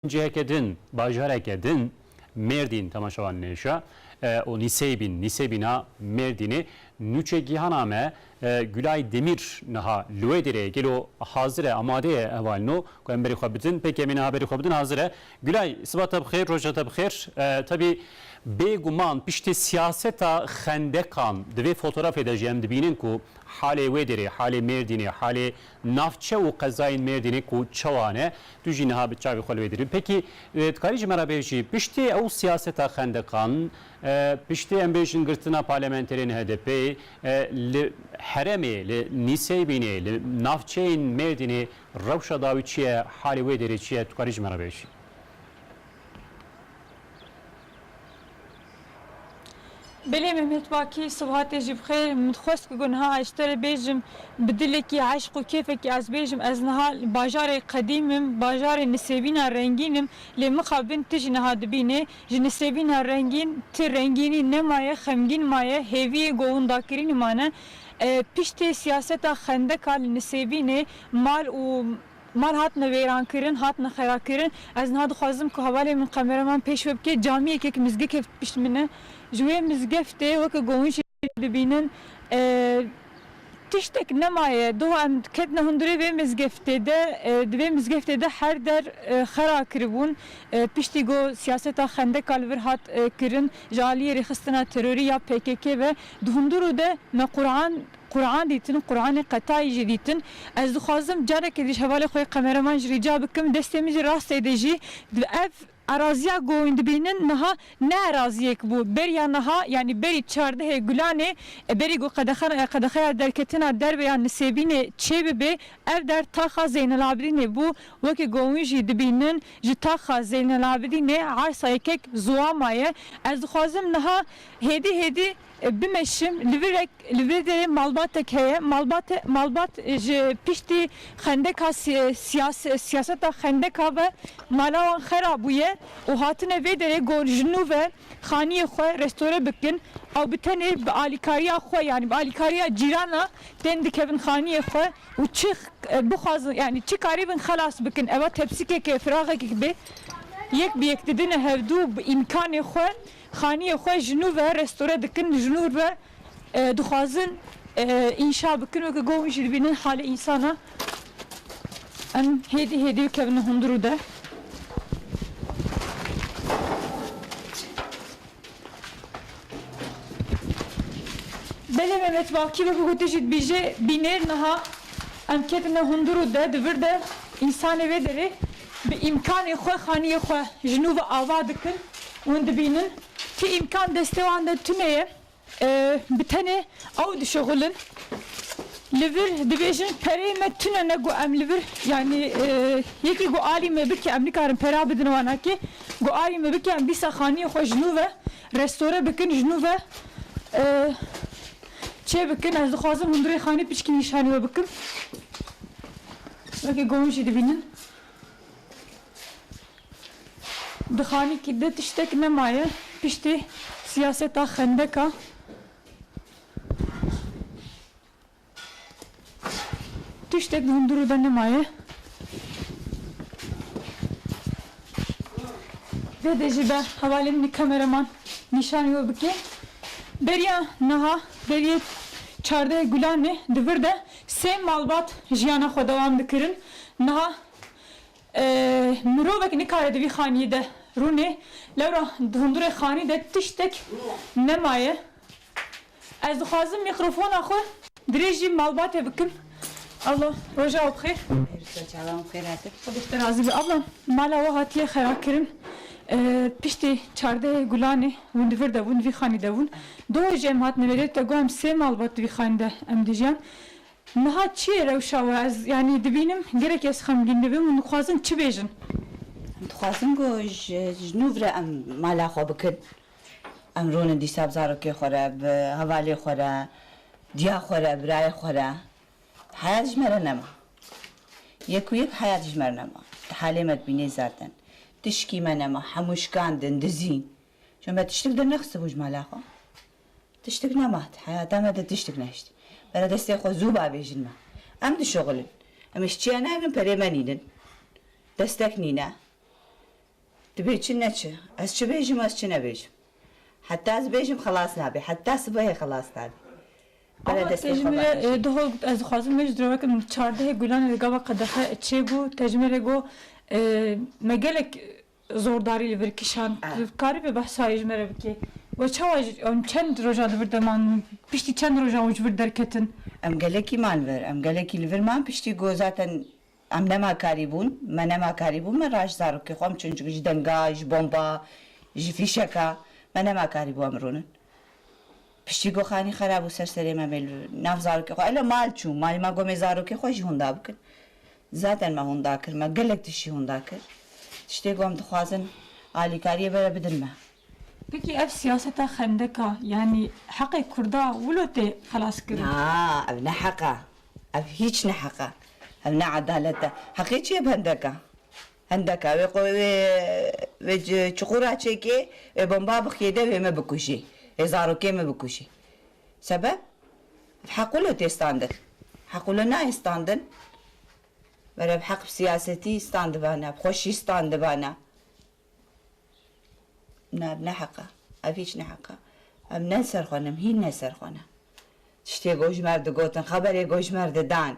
Ciheke din, bajareke din Mêrdîn temaşevan nêşa û Nîseybîn, Nîseybîna Mêrdînê nûçe gîhana me Gulay Demîr niha li wê dêrê ye. Gelo hazir e, amade ye hevalin no ku em berî xwe bidin. Pêkê em ê niha berî xwe bidin hazir e. Gulay siba te bixêr, roja te bixêr. Tevî bêguman piştî siyaseta xendekan di vê fotorafê de jî em dibînin ku halê wê dêrê, halê Mêrdînê, halê Navçe û qezayên Mêrdînê ku çawa ne, tu jî niha bi çavê xwe li wê dirî. Pekî dikarî ji me re bêjî piştî ew siyaseta xendeqan, piştî em bêjin girtina parlementerên HDP'ê li heremê, li Nîseybînê, li navçeyên Mêrdînê rewşa dawî çi ye, halê wê dêrê çi ye, tu karî ji me re bêjî? Belê Mehmet Bakî, sibehatê jî bi xêr. Min dixwest ku niha ez ji te re bêjim, bi dilekî eşq û kêfekî ez bêjim, ez niha li bajarê qedîm im, bajarê nisêbîna rengîn im, lê mixabin tu jî niha dibînê. Ji nisêbîna rengîn tu rengînî nemaye, xemgîn maye, hêviyê govindakirînê mane. Piştê siyaseta xendeka li nisêbînê mal û Mal hatine wêrankirin, hatine xerakirin. Ez niha dixwazim ku hevalên min qemera min pêş ve bike. Camî yekek mizgê kevt pişt min e. Ji wê mizgeftê weke govûn jî dibînin. Tiştek nemaye. Doh em ketine hundirê vê mizgeftê de. Di vê mizgeftê de her der xera kiribûn. Piştî ku siyaseta xendeka li vir hat kirin ji aliyê rêxistina terorî ya pkk ve, di hundir û de me Qur'an Quran dîtin, Quranê qetayî jî dîtin. Ez dixwazim carekê diş hevalê xwe yê qemereman jî rîca bikim, destê min jî rastê de jî ev erazîya ku hûn dibînin niha ne erazîyêk bû. Beriya niha yanî berî çardehê Gulanê berî ku qedexan qedexeya derketina derve ya Nisêbînê çê bibê ev der taxa Zeynelabidînê bû. Wekî ku hûn jî dibînin ji taxa Zeynelabidînê ersa yekek ziwama ye. Ez dixwazim niha hêdî hêdî. Bimeşim, li vir re li vir de malbatek heye, malbat malbat ji piştî xendeka siyas siyaseta xendeka ve mala wan xera bûye û hatine vê derê ku ji nû ve xaniyê xwe restore bikin ew bi tenê bi alîkariya xwe yanî bi alîkariya cîrana tên dikevin xaniyê xwe û çi bixwazin yanî çi karîbin xelas bikin eva tepsîkeke firaxekek bê yek bi yek didine hevdû bi îmkanê xwe Xaniyê xwe ji nû ve restore dikin, ji nû ve dixwazin înşa bikin weke ku hûn jî dibînin halê însan e. Em hêdî hêdî bikevin hundirû de. Belê Mehmet Bakî weke ku tu jî dibîjî bînêr niha em ketine hundirû de di vir de însanê vê derê. bi îmkanê xwe xaniyê xwe ji nû ve ava dikin û hûn dibînin ku îmkan destê wan de tune ye bi tenê ew dişuxulin. Li vir dibêjin pereyê me tune ne ku em li vir yanî yekî ku alî me bike em nikarin pera bidin wan akê ku alî me bike em dîsa xaniyê xwe ji nû ve restore bikin ji nû ve çê bikin ez dixwazim hûn bi rê xanî piçkî nîşanî we bikim wekî ku hûn jî dibînin. Di xanîkî de tiştek nemaye piştî siyaseta xendeka. Tiştek di hundirû de nemaye. Dê dê jî be hevalên min kameraman nîşanî we bike. Beriya niha deriyê çardeh Gulanê di vir de Sê malbat jiyana xwe dewam dikirin. Niha mirovek nikare di vî xaniyê de rûnê. Lewra di hundirê xanî de tiştek nemaye. Ez dixwazim mîkrofona xwe dirêjî malbatê bikim. Abla roja we bi xêr. Roja çawa me bi xêr hate. Xwedê ji te razî be. Abla mala we hatiye xerakirin. Piştê çardehê gulanê hûn di vir de bûn, di vî xanî de bûn. Dawê jê em hat nivêrê te got em sê malbat di vî xayên de em dijiyan. Niha çi ye rewşa we? Ez yanî dibînim gelek ez xemgîn dibim hûn dixwazin çi bêjin? Em dixwazin ku ji nû vire em mala xwe bikin. Em rûnin dîsa bi zarokê xwe re, bi hevalê xwe re, diya xwe re, birayê xwe re. Heyat ji me re nema. Yek û yek heyat ji me re nema. Ti halê me dibînî zerdin. Tişkî me nema. Hemû şikandin, dizîn. Çün me tiştik dernexistibû ji mala xwe. Tiştik nema di heyata me de tiştik nehişt. Bere destê xwe zû bavêjin me. Em dişuxulin. Em ji çiya nayevin perê me nînin. Destek nîne. Dibê çi ne çi. Ez çi bêjim ez çi nebêjim. Heta ez bêjim xelas nabê. Heta sibehê xelas nabê. Bere destê xwe bavêjin. Te ji min re diho got ez dixwazim me ji diroweke min çardehê gulanê li gava qedexe çêbû. Te ji min re got me gelek Zordarî li vir kişand. Dikarîbê behsa wê ji me re bikê? We çawa ji em çend rojan li vir de man in? Piştî çend rojan û ji vir derketin? Em gelekî man vir. Em gelekî li vir man piştî ku zaten em nema karî bûn. Me nema karî bûn me raşt zarokê xwe em çûn çunku ji denga, ji bomba, ji fîşeka me nema karî bû em rûnin. Piştî ku xanî xera bû ser serê me me li nav zarokê xwe elo mal çûm. Malê me got me zarokê xwe jî hûnda bikin. Zaten me hûnda kir. Me gelek tişt jî hûnda kir. Tiştê ku em dixwazin alîkariyê bere bidin me. Peki ev siyaseta xendeka yanî heqê kurda wilo tê xelaskirin? Na, ev ne heq e. Ev hîç ne heq e. Ev ne edalet e. Heqê çi ye bi hendeka? Hendeka wê xwe wê wê çuqura çêkê, wê bomba bixiyê de wê me bikujî, wê zarokê me bikujî. Sebeb? Ev heq wilo tê standin. Heq wilo nayê standin. Vera ev heq bi siyasetî standibana, bi xweşî standibana. Na ev ne heq e. Ev hîç ne heq e. Em ne li ser xwe ne, em hîn ne li ser xwe ne. Tiştê gojmer digotin, xeberê gojmer didan.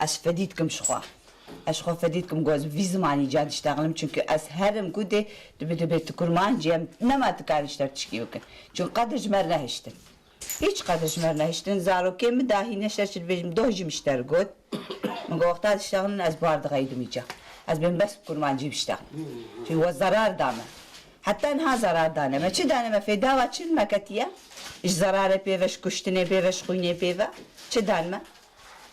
Ez fedî dikim ji xwe. Ez ji xwe fedî dikim ku ez bi vî zimanî ca diştexilim çimkî ez herim ku dê dibe dibe tu kurmancî em nema tu karî ji te tişkî bikin çimkî qedir ji me re nehiştin. Hîç qedir ji me re nehiştin. Zarokê min dahî ne ji te çi dibêjim min doh jî min ji te re got. Min got wexta diştexilin ez bar dixeydim îca. Ez bên bes bi kurmancî biştexin. Çimkî we zerar da me. Heta niha zerar dane me. Çi dane me? Fêdawa çi me ketiye? Ji zerarê pê ve, ji kuştinê pê ve, ji xwînê pê ve çi dan me?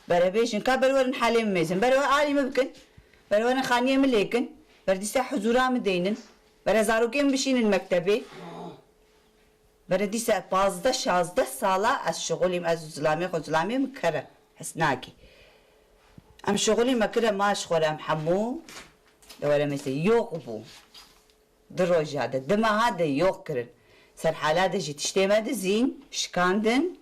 Berebêjin, ka berwerin halê min mêzin, berewer alî min bikin, berewerin xaniyê min lêkin, bere dîsa huzûra min deynin, bere zarokê min bişînin mektebê. Bere dîsa pazdeh, şazdeh sala ez şixulî min, ez û zilamê xwe, zilamê min ker e, his nake. Em şixulî me kir e, ma ji xwe re em hemû li were mêz de yox bû. Du roja de, du meha de yox kirin. Serhala de jî tiştê me dizîn, şikandin.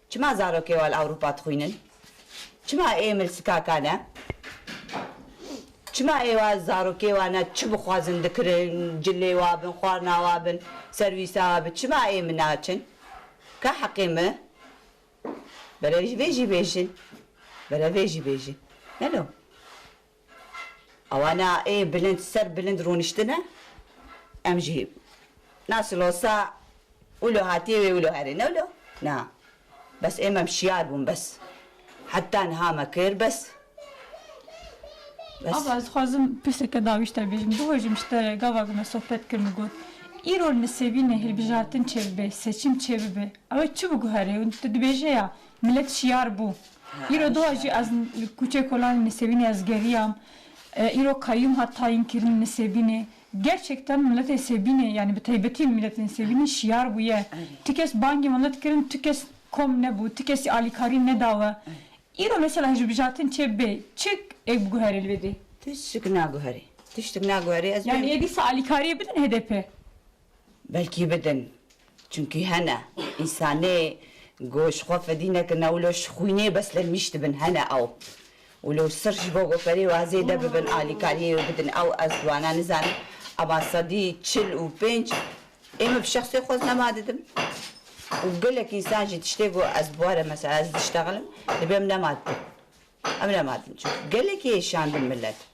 Çima zarokê wan li Ewropa dixwînin? Çima ê milsikakan e? Çima ê wan zarokê wan e çi bixwazin dikirin, cilê wan bin, xwarina wan bin, serwîsa wan bin, çima ê min naçin? Ka heqê min? Bere vê jî bêjin, bere vê jî bêjin. Neno. Awana ê bilind ser bilind rûniştine, em jî na silosa wilo hatiye wê wilo herê newlo na. Bes ê mem şiyar bûn bes. Heta niha me kir bes. Ava ez dixwazim pirseke dawî ji te bêjim. Di hojê min ji te re gava ku me sohbet kirin got, Îro nisêbînê hilbijartin çêbibe, seçim çêbibe ew ê çi biguhere û tu dibêje ya Milet şiyar bû. Îro di wa jî ez li Kûçê Kolanê Nisêbînê ez geriyam. Îro kayyûm hat tayînkirin Nisêbînê. Gerçekten miletê Sêbînê yanî bi taybetî miletê Nisêbînê şiyar bûye. Ti kes bangê milet kirin, tu kes kom nebû, ti kesî alîkarî neda we. Îro mesela hilbijartin çê bê, çi ê biguherê li vê dê? Tişt naguherê. Tişt naguherê ez bê. Yanî ê dîsa alîkariyê bidin HDP'ê? Belkî bidin. Çimkî hene însanê ku ji xwe fedî nekin ew lo ji xwînê bes lenmîş dibin. Hene ew û lo sir ji bo goferê wa zêde bibin alîkariyê wê bidin. Ew ez di wana nizanim ema sedî çil û pênc ê min bi şexsê xwe ez nema didim û gelek însan jî tiştê ku ez bi were mesela ez diştexilim dibê em nema dibin. Em nema dibin çimkî gelekî êşandin milet.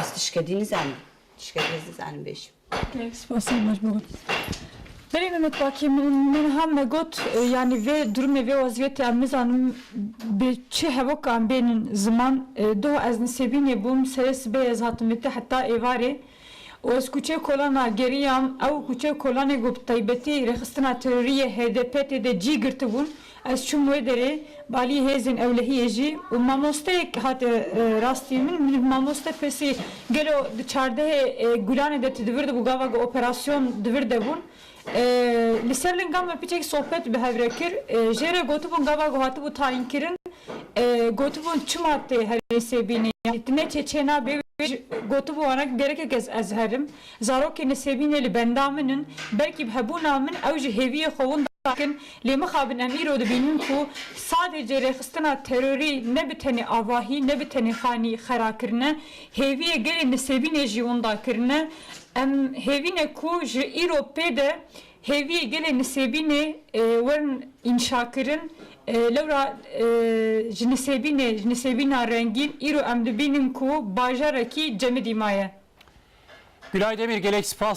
Ez tişkedî nizanim. Tişkedî ez nizanim bêjim. Gelek spas e merhba got. Berê Mehmet Baki min me niha me got yanî vê durumê vê wezîyetê em nizanim bi çi hevok em bênin ziman. Doh ez Nisêbînê bûm serê sibê ez hatim vê te heta êvarê û ez kuçeyê Kolan a geriyam. Ew kuçeyê Kolanê ku bi taybetî rêxistina terorî yê HDP tê de cî girtibûn. Ez çûm wê derê, balî hêzên ewlehiyê jî û mamosteyek hate rastiyê min. Min û mamoste pirsî, gelo di çardehê Gulanê de tu di vir de bû gava ku operasyon di vir de bûn. Li ser lingan me piçek sohbet bi hev re kir. Jê re gotibûn gava ku hatibû tayînkirin. Gotibûn çima tê herî sêbînê yanî tu ne çê çê nabî wê jî gotibû wana ku gerekek ez ez herim. Zarokên li Sêbînê li benda min in, belkî bi hebûna min ew ji hêviyê xwe winda dikin, lê mixabin em îro dibînin ku sadê cêrêxistina terorî ne bi tenê avahî, ne bi tenê xanî xera kirine, hêviyê gelên li Sêbînê jî winda kirine. Em hêvî ne ku ji îro pê de Hêviyê gelê Nisêbînê werin înşakirin, lewra ji Nisêbînê, ji Nisêbîna rengîn îro em dibînin ku bajarekî cemidî maye. Gulay Demîr gelek spas.